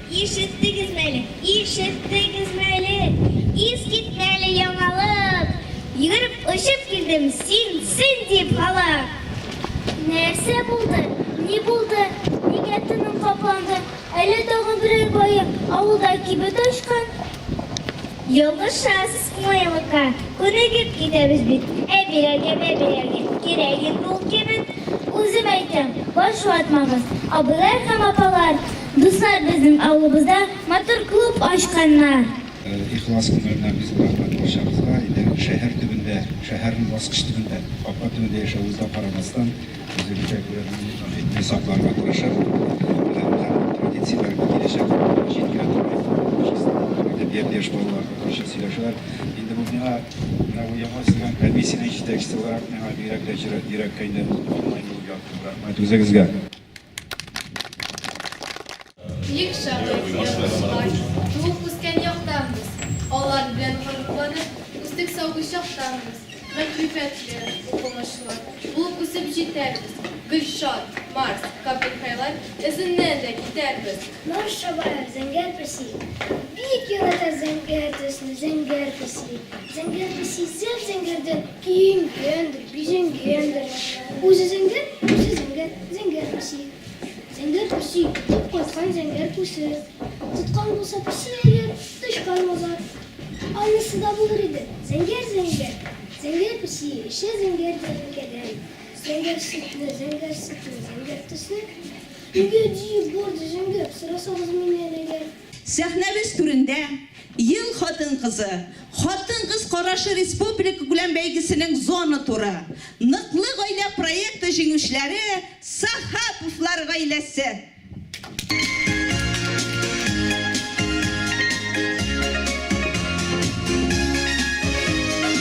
Ишеттегезме әле, ишеттегезме әле, Искитмәле яңалык! Йөгереп очып килдем, син, син дип халык! Нәрсә булды, ни булды, нигә тыным капланды, Әллә тагын берәр бае авылда кибет ачкан? Ялгышасыз, кунаялыкка күнегеп китәбез бит, Ә бирәргә мә бирәргә кирәк инде ул кибет. Үзем әйтәм, баш ватмагыз, абыйлар һәм апалар! Дуслар безнең авылыбызда матур клуб ачканнар. Ихлас күңелдән бик зур рәхмәт барчагызга. Инде шәһәр төбендә, шәһәрнең баскыч төбендә, капка төбендә яшәвебезгә карамастан, үзебезчә күренекле сакларга тырышып, традицияләргә киләчәк буынга җиткерә торган әдәбият яшь балалар татарча сөйләшәләр. Инде бу миңа, менә бу яңа төзелгән комиссиянең җитәкчесе буларак, миңа бигрәк тә йөрәккә инде ул форма инде ул яктан. Рәхмәт үзегезгә. Бик шат язмышлар. Туып үскән яктанбыз. Алар белән горурланып, үсек сабый чактанбыз. Мәгърифәтле, укымышлы булып үсеп җитәрбез. Гөлшат, Марс, Капельхайлар эзеннән дә китәрбез. Марс чабары, зәңгәр песи. Бик ярата зәңгәр төсне, зәңгәр песи. Зәңгәр песи зәп-зәңгәрдән Киенгәндер, бизәнгәндер. Үзе зәңгәр, үзе зәңгәр, зәңгәр песи. Зәңгәр песи, тотып кайткан зәңгәр күсе. Тоткан булса песи әйбер, тычкан мазар. Анысы да булыр иде, зәңгәр, зәңгәр. Зәңгәр песи, эчә зәңгәр тәлинкәдән. Зәңгәр сөтне, зәңгәр сөтне, зәңгәр төсле. Нигә җыеп барды зәңгәр, сорасагыз миннән әгәр. Сәхнәбез түрендә Ел хатын-кызы, Хатын-кыз карашы республикакүләм бәйгесенең зона туры, Ныклы гаилә проекты җиңүчеләре Сахаповлар гаиләсе.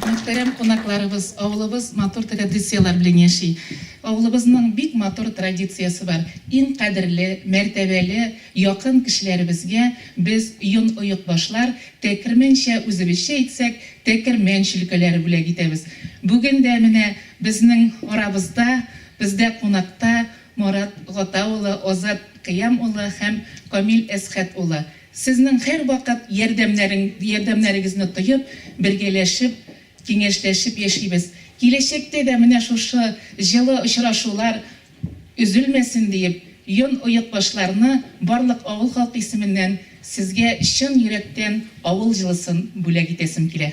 Мөхтәрәм кунакларыбыз, авылыбыз матур традицияләр белән яши. Авылыбызның бик матур традициясе бар. Иң кадерле, мәртәбәле, якын кешеләребезгә без йон оекбашлар, тәкермәнчә үзебезчә әйтсәк, тәкермән чөлкәләре бүләк итәбез. Бүген дә менә безнең арабызда, бездә кунакта Марат Гата улы, Азат Кыям улы һәм Камил Әсхәт улы. Сезнең һәрвакыт ярдәмнәрең ярдәмнәрегезне тоеп, бергәләшеп, киңәшләшеп яшибез. Киләчәктә дә менә шушы җылы очрашулар өзелмәсен диеп, Йон оекбашларны барлык авыл халкы исеменнән Сезгә чын йөрәктән авыл җылысын бүләк итәсем килә.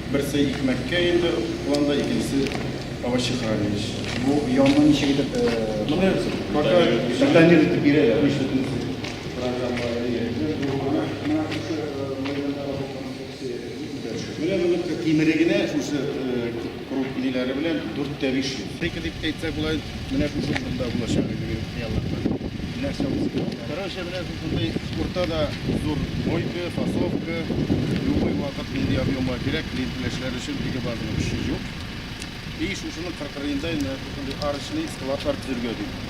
Берсе икмәккә инде планда, икенчесе овощехранилище. Бу яңгын ничек итеп бирәсез? Пока питание итеп бирәләр. Менә моның тимере генә шушы круг иләре белән дүрт тә биш йөз. Ике дип әйтсәк була. Менә бүген монда булачак әлеге хыялларда. Нәрсә ул сыйфатлары? Короче, менә шушындый спортта да зур мойка, фасовка, любой вакыт нинди объемга кирәк, лентиләшләр өчен теге базаның көче юк. И шушының кыркырыенда инде шушындый арочный складлар төзергә дип.